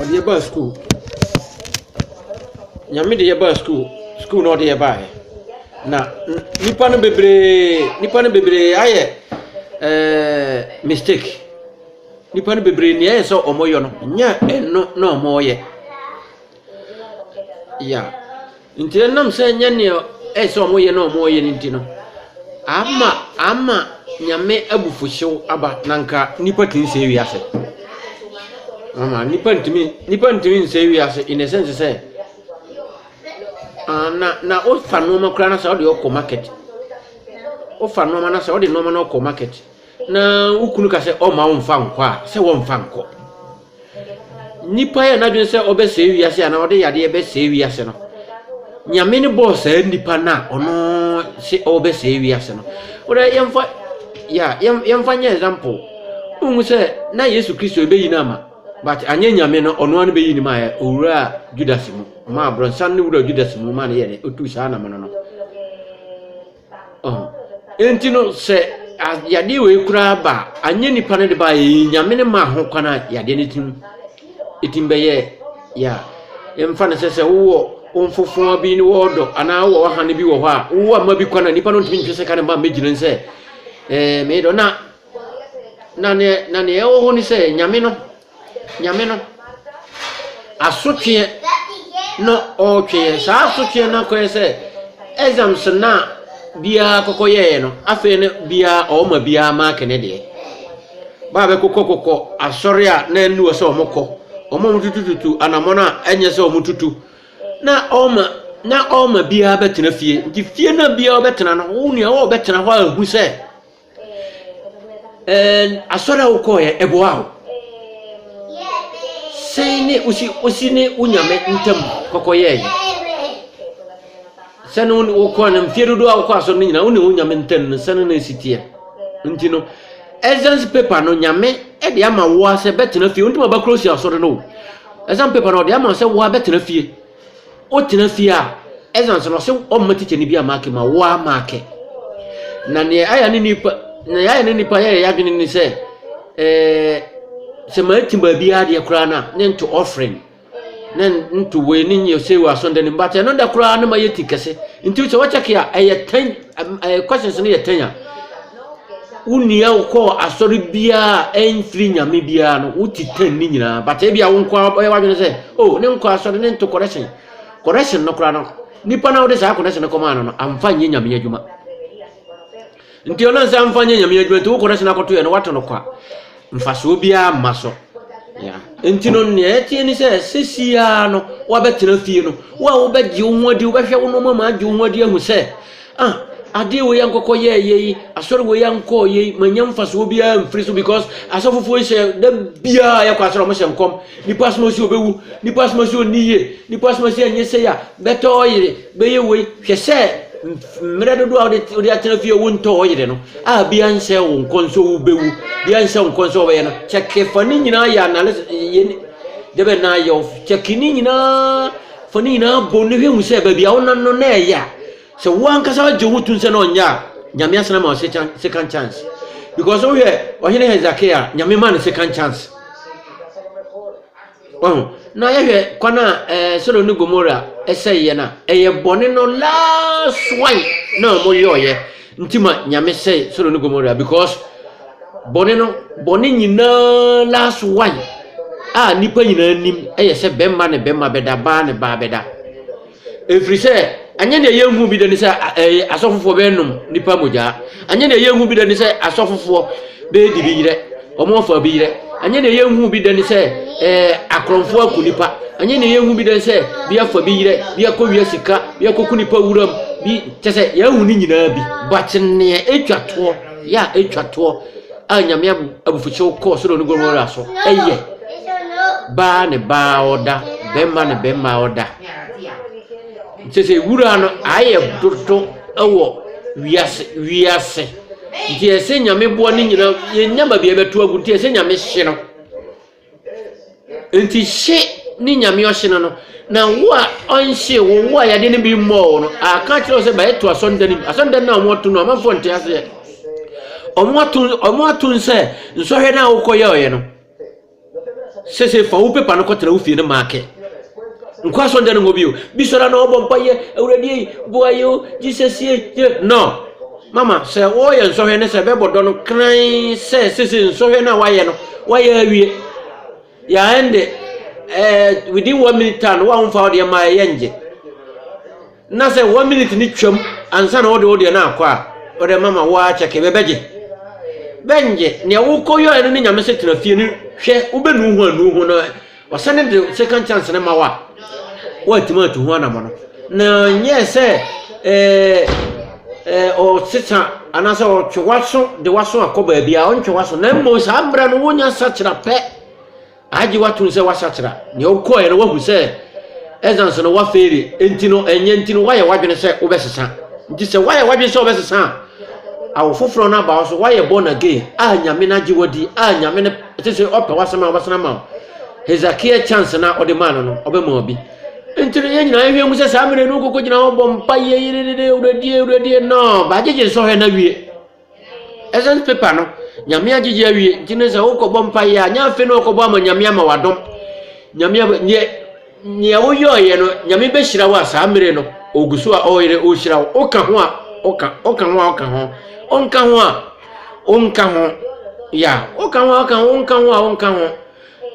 Ɔde yɛ baa sukuu. Nyame de yɛ baa sukuu. Sukuu na ɔde yɛ baeɛ. Na nipa no bebree nipa no bebree ayɛ ɛɛɛ mistake. Nipa no bebree nea ɛyɛ sɛ wɔyɛ no nyɛ ɛno na wɔyɛ. Yeah. Nti ɛnam sɛ ɛnyɛ nea ɛyɛ sɛ wɔyɛ na wɔyɛ no nti no, ama ama Nyame abufuhyew aba na anka nnipa tumi sɛe wiase. Ama nnipa ntumi nnipa ntumi nsɛe wiase in a sense sɛ ah, na na wofa nneɛma koraa na sɛ wode ɔkɔ market wofa nneɛma na sɛ wode nneɛma no ɔkɔ market na wo kunu ka sɛ ɔma wo mfa nkɔ a sɛ wɔmfa nkɔ Nnipa yɛ n'adwene sɛ ɔbɛsɛe wiase anaa ɔde yadeɛ bɛsɛe wiase no, Nyame no bɔɔ saa nnipa no a ɔno se ɔbɛsɛe wiase no. Wodɛ yɛmfa ya yɛmfa nyɛ example. Wohu sɛ na Yesu Kristo ɛbɛyi no ama but anyɛ Nyame no ɔno ara no bɛyi no ma ɛ owura Judas mu ɔmaa brɔnsan no wura Judas mu maa no yɛ dɛ ɔtuu saa anamɔno no. Ɔho. Enti no, sɛ a yadeɛ wei koraa ba a, anyɛ nipa no de ba yɛ, Nyame no maa ho kwan a yadeɛ no tim ɛtim bɛyɛ yɛ a, ɛmfa no sɛ sɛ wowɔ wo mfofoa bi ne wɔɔdɔ anaa wowɔ wahane bi wɔ hɔ a, wowɔ ama bi kwan a nipa no ntumi ntwe sɛ ka ne mma mmɛgyina sɛ ɛɛ meedɔ na na neɛ na neɛ ɛwɔ hɔ ne sɛ Nyame no Nyame no asotweɛ na ɔretwe yɛn. Saa asotweɛ no akɔyɛ sɛ exams no a biara kɔkɔ yɛeɛ no, afei no biara ɔma biara maake ne deɛ. Baa bɛkokɔkokɔ asɔre a na ɛnni wɔ sɛ wɔkɔ, wɔn a wɔtutututu anammɔn a ɛnyɛ sɛ wɔtutu, na ɔma na ɔma biara bɛtena fie. Nti fie no a biara bɛtena no, wo nua wɔbɛtena hɔ a ɛhu sɛ. And asɔre a wokɔɔyɛ ɛboa wo sɛn ne wosi wosi ne wo nyame ntam kɔkɔyɛɛ sɛne wo ne wokɔ no mfeɛ dodoɔ a wokɔ asɔre no nyinaa wo ne wo nyame ntam no sɛne no si teɛ nti no essence paper no nyame de ama woa sɛ bɛtena fie wontumi abɛkorɔ si asɔre no o essence paper no ɔde ama sɛ woa bɛtena fie Wotena fie a, ɛsan so no, ɔsɛ ɔmma tikya no bi a maake ma wo a maake. Na nea ayɛ ne nipa, nea ayɛ ne nipa yɛyɛ adwene ne sɛ, ɛɛ sɛ mate baabi adeɛ koraa no a, ne nto ɔfren, ne nto wei ne nyɛ sɛ wɔ asɔnda no mu. But ɛno da koraa no ma yɛ ti kɛse. Nti sɛ wɔkyɛke a, ɛyɛ ten, ɛɛ questions no yɛ ten a, wonua wokɔɔ asɔre biara a ɛmfiri nyame biara no wote tan ne nyinaa but ebi a wo nko ara bɛyɛ w'adwene sɛ oh ne nkɔ asɔre ne nto correction correction no koraa no nipa na wode saa correction no kɔmaa no no amfa nyɛ nyame adwuma nti ɔnam sɛ amfa nyɛ nyame adwuma nti wo correction akɔto yɛ no wato no kwa Mfasoɔ biara mma so. Nti no nea ɛteɛ ne sɛ sɛsi ara no woabɛtena fie no wo a wobɛgye wo ho adi wobɛhwɛ wo nneɛma ma agye wo ho adi ahu sɛ ah adeɛ wei ankɔkɔ yɛɛyɛ yi asɔre wei ankɔɔ yɛ yi manya mfasoɔ biara mfiri so because asɔfofoɔ yi hyɛ da biara yɛkɔ asɔre ɔmo hyɛ nkɔm nipa asoma si obɛwu nipa asoma si ɔnni yie nipa asoma si ɛnyɛ sɛ ya bɛtɔ ɔyere Bɛyɛ wei, hwɛ sɛ mmerɛ dodoɔ a wode atena fie wo ntɔ wo yere no a bia nhyɛ wo nkɔn sɛ wobɛwu bia nhyɛ wo nkɔn sɛ wobɛyɛ no kyɛke fa ne nyinaa yɛ analysis dɛbɛ na yɛ kyɛke ne nyinaa fa ne nyinaa bɔ ne hwɛ hu sɛ baabi a wonam no na ɛyɛ a sɛ wo ankasa wagye wo tom sɛ na ɔnyɛ a nyame asena ma second chance because wohwɛ ɔhene hezekia nyame ma no second chance Wahu? Na yɛhwɛ kwan a ɛɛ eh, Sodom ne Gomora sɛeɛ no a, ɛyɛ bɔne no last one na wɔyɔɔyɛ nti ma Nyame sɛe Sodom ne Gomora because bɔne no bɔne nyinaa last one a nipa nyinaa nim ɛyɛ sɛ bɛrima ne bɛrima bɛda baa ne baa bɛda Ɛfiri sɛ, anyɛ deɛ yɛnhu bi da ni sɛ ɛɛ asɔfofoɔ bɛnom nipa mogya. Anyɛ deɛ yɛnhu bi da ni sɛ asɔfofoɔ bɛdi bi yerɛ, wɔn afa bi yerɛ. Anyɛ deɛ yɛnhu bi da ni sɛ ɛɛ akorɔmfoɔ aku nipa. Anyɛ deɛ yɛnhu bi da ni sɛ bi afa bi yerɛ, bi akɔwia sika, bi akɔku nipa wuram, bi kyɛ sɛ yɛahu ne nyinaa bi. But neɛ ɛtwa toɔ, yɛ a ɛtwa toɔ a Nyame abufuhyew kɔɔ Sodom ne Gomora so yɛ baa ne baa a ɔda, bɛmma ne bɛmma a ɔda. Kyerɛ sɛ wura no ayɛ dodo wɔ wiase wiase. Nti ɛsɛ nyame boa ne nyina yɛnya baabi a yɛbɛto agu nti ɛsɛ nyame hye no. Nti hye ne nyame ɔhye no no na wo a ɔnhye wo wo a yadeɛ no bi mmɔɔ wo no aka kyerɛ wo sɛ bɛyɛ to asɔnda no mu asɔnda no a wɔn ato no amanfoɔ nte aseɛ wɔn ato wɔn ato nsɛ nsɔhwɛ no a wokɔyɛ ɔyɛ no Sese fa wo paper no kɔtena wo fie no maake. Nkɔ asɔnda no ngɔ bio. Bi sɔre na ɔbɔ mpa yɛ awurade ei boa yɛ o Jesus ei yɛ no. Mama sɛ wɔyɛ nsɔhwɛ ne sɛ bɛbɔ dɔ no kran sɛ sese nsɔhwɛ no a wayɛ no wayɛ awie. Ya ɛnde eh, within one minute time no wa wo mfa wo deɛ ma ɛyɛ ngye. Na sɛ one minute no twam ansa na wode wo deɛ no akɔ a, wode ma ma wo ara kyɛke bɛbɛgye. Bɛngye nea wokɔyɔɛ no ne Nyame sɛ tena fie no hwɛ wobɛnu ho annu ho na ɔsane de second chance no ma wo a, woatumi atu ho anamɔno. Na nyɛɛ sɛ ɛɛ ɔsesa anaasɛ ɔtwe waso de waso akɔ baabi a ɔntwe waso na mmom saa mmerɛ no wonya sakyera pɛ Agye wo atom sɛ woasakyera. Nea wokɔeɛ no woahu sɛ ɛsiane sɛ na woafeeli nti no, ɛnyɛ nti no woayɛ w'adwene sɛ wobɛsesa. Nti sɛ woayɛ w'adwene sɛ wobɛsesa a, awo foforɔ no aba wo so, woayɛ born again a Nyame no agye wadi a Nyame no ɛte sɛ ɔpɛ w'asɛm a ɔbɛsan ama wo. Hezekiah chance na ɔde maa no no, ɔbɛma obi. Nti no yɛn nyinaa yɛhwɛ mu sɛ saa mmerɛ no wokɔkɔgyina hɔ bɔ mpaeɛ yɛdedede awuradie awuradie no bagyegye nsɔhwɛ no awie. Essence paper no, Nyame agyegye awie, nti no sɛ wokɔbɔ mpaeɛ a, nyɛ afei na ɔkɔbɔ ama Nyame ama wadom. Nyame ab neɛ nea woyɔeɛ no, Nyame bɛhyira wo a saa mmere no ɔgu so a ɔyere ɔhyira wo. Woka ho a, ɔka, ɔka ho a ɔka ho, ɔnka ho a, ɔnka ho. Ya, woka ho a ɔka ho, ɔnka ho a ɔnka ho.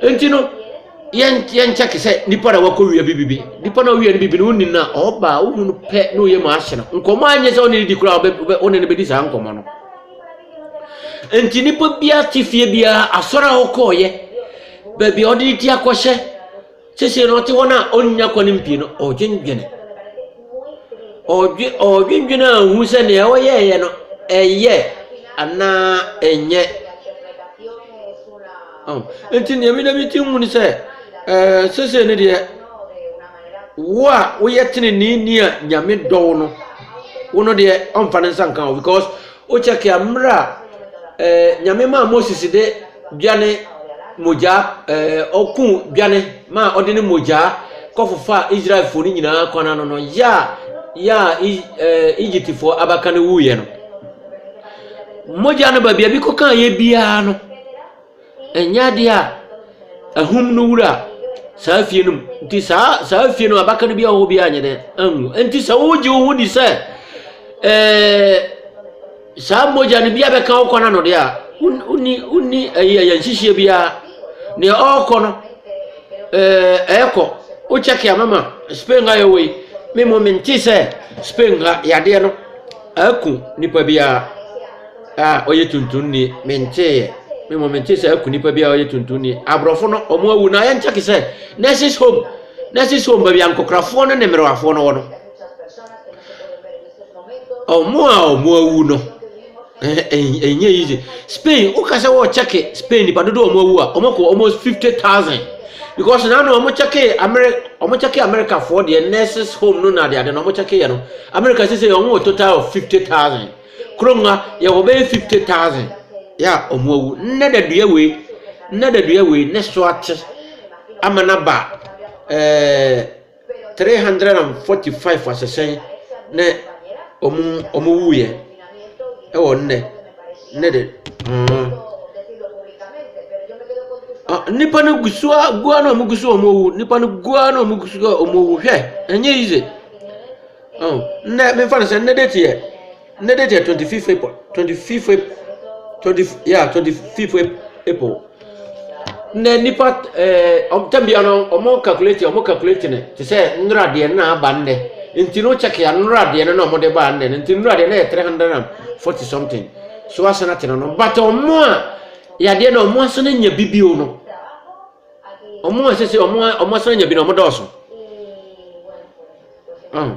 Enti no, yɛn yɛn kyɛ te sɛ nipa na wakɔ wia bibi bi. Nipa na ɔwia no bibi no wonni na ɔba a wohu no pɛ na ɔyɛ mu ahye no. Nkɔmɔ anyɛ sɛ ɔne ne di koraa ɔbɛ ɔbɛ- ɔne ne bɛdi saa nkɔmɔ no. Enti nipa biara te fie biara asɔre a ɔkɔɔyɛ baabi a ɔde ne ti akɔhyɛ Seesei no, ɔte hɔ no a ɔnnya kɔ ne mpie no, ɔredwendwene. Ɔredwe ɔredwendwene a ɔhu sɛ nea ɔyɛeɛ no, ɛyɛ anaa ɛnyɛ. Oh, Nti nea meda me ti hu ne sɛ, ɛɛ, seesei no deɛ, wo a woyɛ teneneeni a Nyame dɔ wo no, wo no deɛ ɔmfa ne nsa nka wo because Wo kyɛke a mmerɛ a eh, Nyame maa Moses de dwane mogyaa eh, ɔkuu dwane maa ɔde ne mogyaa kɔfofa Israelfoɔ no nyinaa kwan ano no yɛ a yɛ a eh, Egyptfoɔ abaka no wuiɛ no mogya no baabi a bi kɔkaa yɛ biara no Ɛnyɛ adeɛ a ahum no wura saa fie no mu. Nti saa saa fie no abaka no bi a ɔwɔ bi anyɛ dɛ anwu. Nti sɛ wogye wo ho di sɛ ɛɛ saa mogya no bi abɛka wo kwan ano deɛ a wonni wonni ɛyi ɛyɛ nhyehyeɛ biara. Nea ɔrekɔ no ɛɛ ɛrekɔ wokyɛke a mama Spain ha yɛ wɔ yi me mo mente sɛ Spain ha yadeɛ no ɛku nipa biara. a ɔyɛ tuntumni, menteeɛ. Me mmom mentee sɛ aku nipa bi a ɔyɛ tuntumni. Aborɔfo no, wɔn awu na ayɛ nkyɛ te sɛ nurses home. Nurses home baabi a nkokorafoɔ no ne mmerewafoɔ no wɔ no. Wɔn a wɔn awu no, ɛnyɛ easy. Spain, woka sɛ wɔrekyɛke Spain nipa dodo a wɔn awu a, wɔkɔ almost fifty thousand. Because na na wɔn kyɛke Ameri wɔn kyɛke Amerikafoɔ deɛ nurses home no na adeade na wɔn kyɛke yɛ no. Amerika sisi wɔn wɔ total of fifty thousand. Kurom ha, yɛwɔ bɛyɛ fifty thousand yɛ a wɔn awu. Nnɛ dadua wei, nnɛ dadua wei ne so ate ama no aba ɛɛ three hundred and forty five asesɛn ne wɔn wɔn wuiɛ ɛwɔ nnɛ nnɛ de mm. Ah, nnipa no gu so a gu ara na wɔn gu so a wɔn awu nnipa no gu ara na wɔn gu so a wɔn awu hwɛ ɛnyɛ yize. Oh, nnɛ memfa no sɛ nnɛ date yɛ nnɛ date yɛ twenty fifth april twenty fifth twenty yeah twenty fifth april nnɛ nipa ɛɛ ɔmtɛm bia no ɔmo calculate ɔmo calculate ne te sɛ nnora deɛ no na aba nnɛ nti no check ya nnora deɛ no na ɔmo de ba nnɛ no nti nnora deɛ no yɛ three hundred and forty something so asana te no no but ɔmo a yadeɛ na ɔmo asana nya bibio no. wɔn a sese wɔn wɔn asra nya bi na wɔn dɔɔso ɔn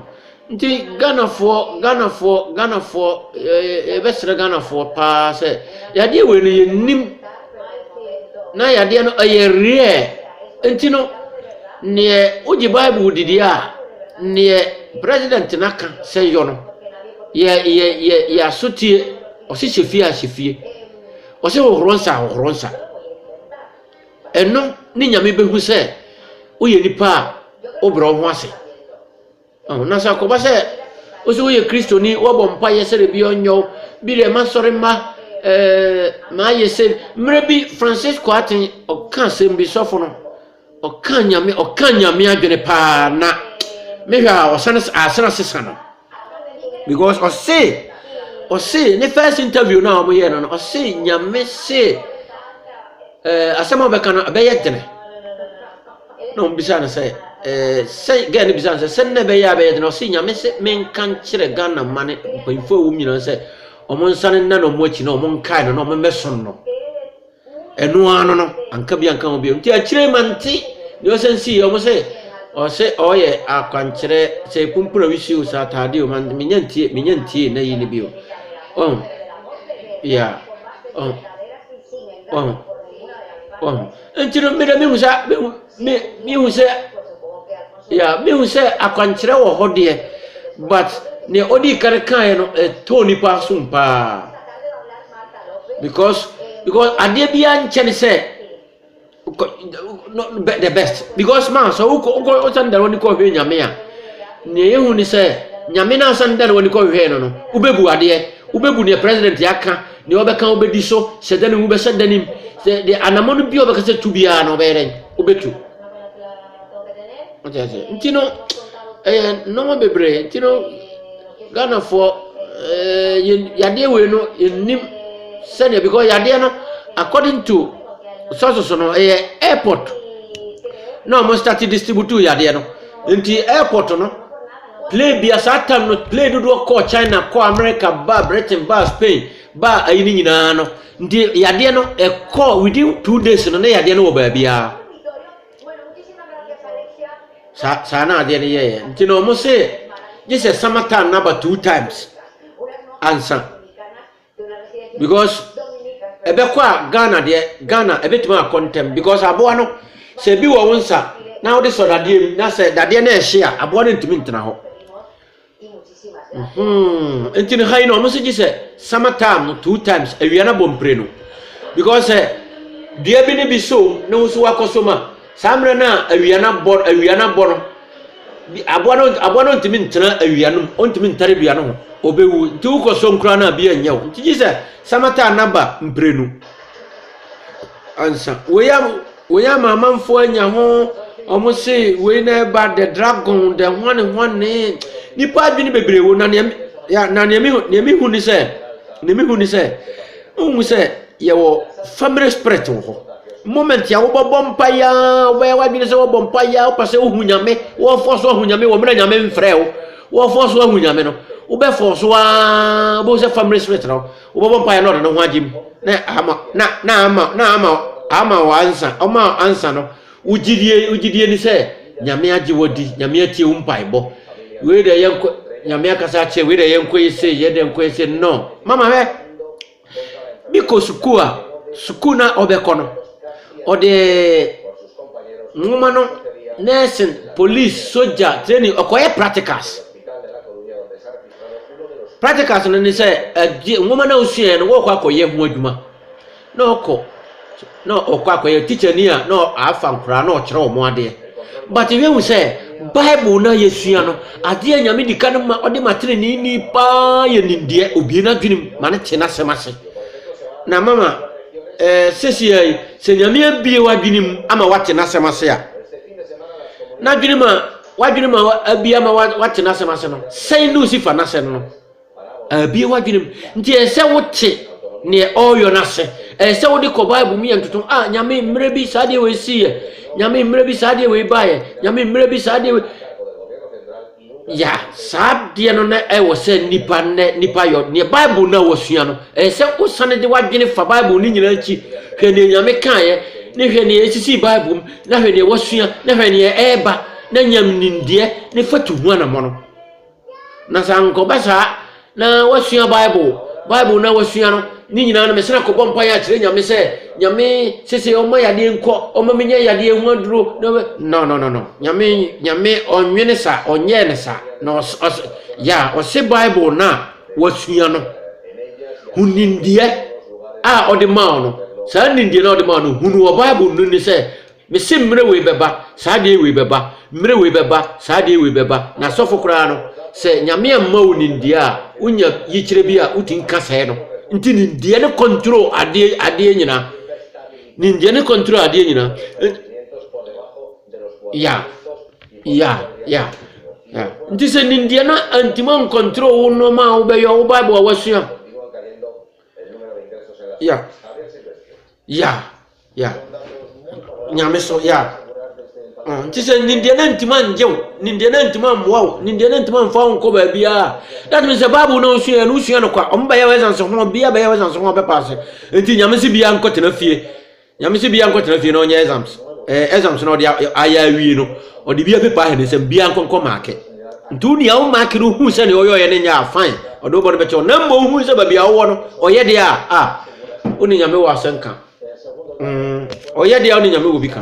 nti ghanafoɔ ghanafoɔ ghanafoɔ ɛɛ ɛbɛsrɛ ghanafoɔ paa sɛ yadeɛ wei no yɛ nim na yadeɛ no ɛyɛ reɛ nti no neɛ wogye bible didi a neɛ president no aka sɛ yɔ no yɛ yɛ yɛ yɛ asotie ɔsi hyɛ fie a hyɛ fie ɔsi hohoro nsa hohoro nsa. Ɛno ne Nyame bɛhu sɛ woyɛ nipa a wobrɛ wo ho ase. Na sɛ akɔba sɛ wo sɛ woyɛ kristoni, woabɔ mpaeɛ sɛ dabi ɔnyɛ wo, bi deɛ masɔre mma, ɛɛ mayɛ sɛ. Mmerɛ bi Francis Kwarteng ɔka asɛm bi, sɔfo no, ɔka Nyame ɔka Nyame adwene paa na mehwɛ a ɔsane asene asesa no. Because ɔse ɔse ne first interview no a wɔyɛ no no ɔse nyame se ɛɛ asɛm a ɔbɛka no ɛbɛyɛ dene na wɔn bisa no sɛ ɛɛ sɛ gɛɛ no bisa no sɛ sɛ nna ɛbɛyɛ a ɛbɛyɛ dene ɔse nyame se menka nkyerɛ Ghana ma ne mpanyinfoɔ a wɔn nyinaa sɛ wɔn nsa no nna na wɔn akyi na wɔn nkae no na wɔn mmɛsom no. Ɛno ara no no, anka bi anka ho bio. Nti akyire yi mante deɛ ɔsan sii yɛ. Wɔn sɛ ɔsɛ ɔyɛ akwankyerɛ sɛ epumpuna wisi o sɛ ataade o man menya ntie menya ntie na yi ne bio. Ɔho ya ɔho ɔho ɔho. Nti no meda mehu sa mehu. Me mehu sɛ yeah mehu sɛ akwankyerɛ wɔ hɔ deɛ but nea odi kan kaeɛ no ɛtɔ nipa som paa because because adeɛ biara nkyɛ ne sɛ the best because maa sɛ wokɔ wokɔ wosan dara wani kɔhwɛ nyame a nea yɛhu ne sɛ nyame no asan dara wani kɔhwɛ no no wobɛbu adeɛ wobɛbu nea president yɛaka Deɛ ɔbɛka wobɛdi so, sɛ da ne wu bɛhyɛ da nim, sɛ deɛ anamɔ no bi a ɔbɛka sɛ tu biara no ɔbɛyɛ dɛn? Wobɛtu. Wote ase? Nti no, ɛyɛ nnoɔma bebree. Nti no, Ghanafoɔ, eh, yadeɛ wei no, yɛnim sɛdeɛ, because yadeɛ no, according to sources no, ɛyɛ airport na wɔn start distribute yadeɛ no. Nti airport no, Play bia saa tam no play dodoɔ kɔɔ China kɔɔ America baa Britain baa Spain baa ayi no nyinaa no nti yadeɛ no ɛkɔɔ within two days no na yadeɛ no wɔ baabiara saa saa na adeɛ no yɛɛyɛ nti na wɔn se gye sɛ summer time no aba two times ansa because ɛbɛkɔ a ghana deɛ ghana ɛbɛtumi akɔ ntɛm because aboa no sɛ ebi wɔ wo nsa na wode sɔ dadeɛ mu na sɛ dadeɛ no ɛhye a aboa no ntumi ntena hɔ hmm. nti no ha yi na wɔn nso gye sɛ summer time no two times awia no abɔ mpire no because sɛ dua bi ne bi so na wosu wakɔ so ma Saa mmerɛ no a awia no abɔ awia no abɔ no aboa no aboa no ntumi ntena awia no mu ntumi ntare dua no ho ɔbɛwu nti wokɔ so nkura no a bi anyɛ wo nti gye sɛ samata naba mprenu ansa wei a wei ama amanfoɔ anya ho wɔn se wei na ɛba the dragon the hwane hwane nipa adwene bebree wo na nea ya na nea mehu nea mehu ni sɛ nea mehu ni sɛ ohun sɛ. Yɛwɔ family spirit wɔ hɔ. Moment a wobɛbɔ mpaeɛ ara, wobɛyɛ w'adwene sɛ wɔbɔ mpaeɛ ara, wopɛ sɛ wohu Nyame, wɔfɔ so ahu Nyame wɔ mmerɛ Nyame mfrɛ wo, wɔfɔ so ahu Nyame no, wobɛfɔ so ara, wobɛhu sɛ family spirit no, wobɛbɔ mpaeɛ na ɔde ne ho agye mu, na ama, na, na ama, na ama, ama wɔ ansa, ɔma ansa no, wogyidie, wogyidie ni sɛ, Nyame agye wɔ di, Nyame atie wo mpaebɔ, wei deɛ yɛnkɔ, Nyame akasa akyerɛ, wei deɛ yɛnkɔ yɛ sei, yɛ deɛ nkɔ yɛ sei, no, mama hɛ, Mekɔ sukuu a, sukuu no a ɔbɛkɔ no, ɔde nwoma no, nursing, police, sogya, training, ɔkɔyɛ practicals. Practicals no ne sɛ, ade nwoma no a wosuaeɛ no, wɔrekɔ akɔyɛ ho adwuma na ɔkɔ. na ɔkɔ akɔyɛ tikyani a na afa nkoraa na ɔkyerɛ wɔn adeɛ but yɛhu sɛ bible no a yɛsua no adeɛ a nyame di ka no ma ɔde ma teneneeni paa yɛ nimdeɛ obie no adwenem ma no te n'asɛm ase na mama eh, sesia yi sɛ nyame abie w'adwenem ama wate n'asɛm ase a n'adwenem a w'adwenem a abie ama wate n'asɛm ase no sɛn ne osifa n'asɛm no Abue w'adwenem. Nti ɛyɛ sɛ wote neɛ ɔreyɔ no ase. Ɛyɛ sɛ wode kɔ Bible mu yɛ ntotom. A ah, Nyame mmerɛ bi saa deɛ wei siiɛ. Nyame mmerɛ bi saa deɛ wei baeɛ. Nyame mmerɛ bi saa deɛ wei. Ya saa deɛ no na ɛwɔ sɛ nipa nɛ nipa yɔ neɛ Bible na wasua no. Ɛyɛ sɛ wosane de w'adwene fa Bible no nyinaa akyi. Hwɛ neɛ Nyame kaeɛ ne hwɛ neɛ ɛsisi Bible mu na hwɛ neɛ wasua na hwɛ neɛ ɛreba na nyam nimdeɛ ne fatu ho anammɔ no. Na sɛ ankɔba saa, na wasua Bible, Bible na wasua no, ne nyinaa no mesena kɔbɔ mpaeɛ akyerɛ Nyame sɛ, Nyame sese ɔma yadeɛ nkɔ, ɔma menya yadeɛ ho aduro. No, no, no, no. Nyame, Nyame ɔnwene sa, ɔnyɛɛ ne sa. Na ɔs, ɔs, ya, ɔse Bible na wasua no. Hu nimdeɛ a ɔde maa no. Saa nimdeɛ na ɔde maa no, hunu wɔ Bible no ni sɛ, Mese mmerɛ wei bɛba, saa adeɛ wei bɛba, mmerɛ wei bɛba, saa adeɛ wei bɛba, na asɔfo koraa no, sɛ Nyame amma wo nimdeɛ a, wonya yikyerɛ bi a wotumi ka sɛɛ no. Nti nimdeɛ no control adeɛ, adeɛ nyinaa. Nimdeɛ no control adeɛ nyinaa. Ya, ya, ya, ya. Nti sɛ nimdeɛ no antumi ancontrol wo nneɛma a wobɛyɛ, wo Bible a wasua. Ya, ya. Yeah. Nyame so, yeah. Mm, nti sɛ nimdeɛ no ntumi angye wo nimdeɛ no ntumi ammoa wo nimdeɛ no ntumi amfa wo nkɔ baabiaa that means sɛ bible no wosua no wosua no kwa ɔmo bɛyɛ wɔ ɛsanse ho bia bɛyɛ wɔ ɛsanse ho bɛpa ase nti nyame se bia nkɔtena fie nyame se bia nkɔtena fie na ɔnyɛ exams ɛɛ eh, exams na ɔde ayɛ awie no ɔde bia pepa ahɛ ne nsɛm bia nkɔnkɔ maake nti wo nea wo maake no hu sɛ nea ɔyɛ ɔyɛ no nyɛ a fine ɔde wobɔ no bɛkyɛ wo na mmɔ hu sɛ baabi a wowɔ no ɔyɛ deɛ a a Wo ne Nyame wɔ asɛnka. Mm, ɔyɛ deɛ wo ne Nyame wɔ bi ka.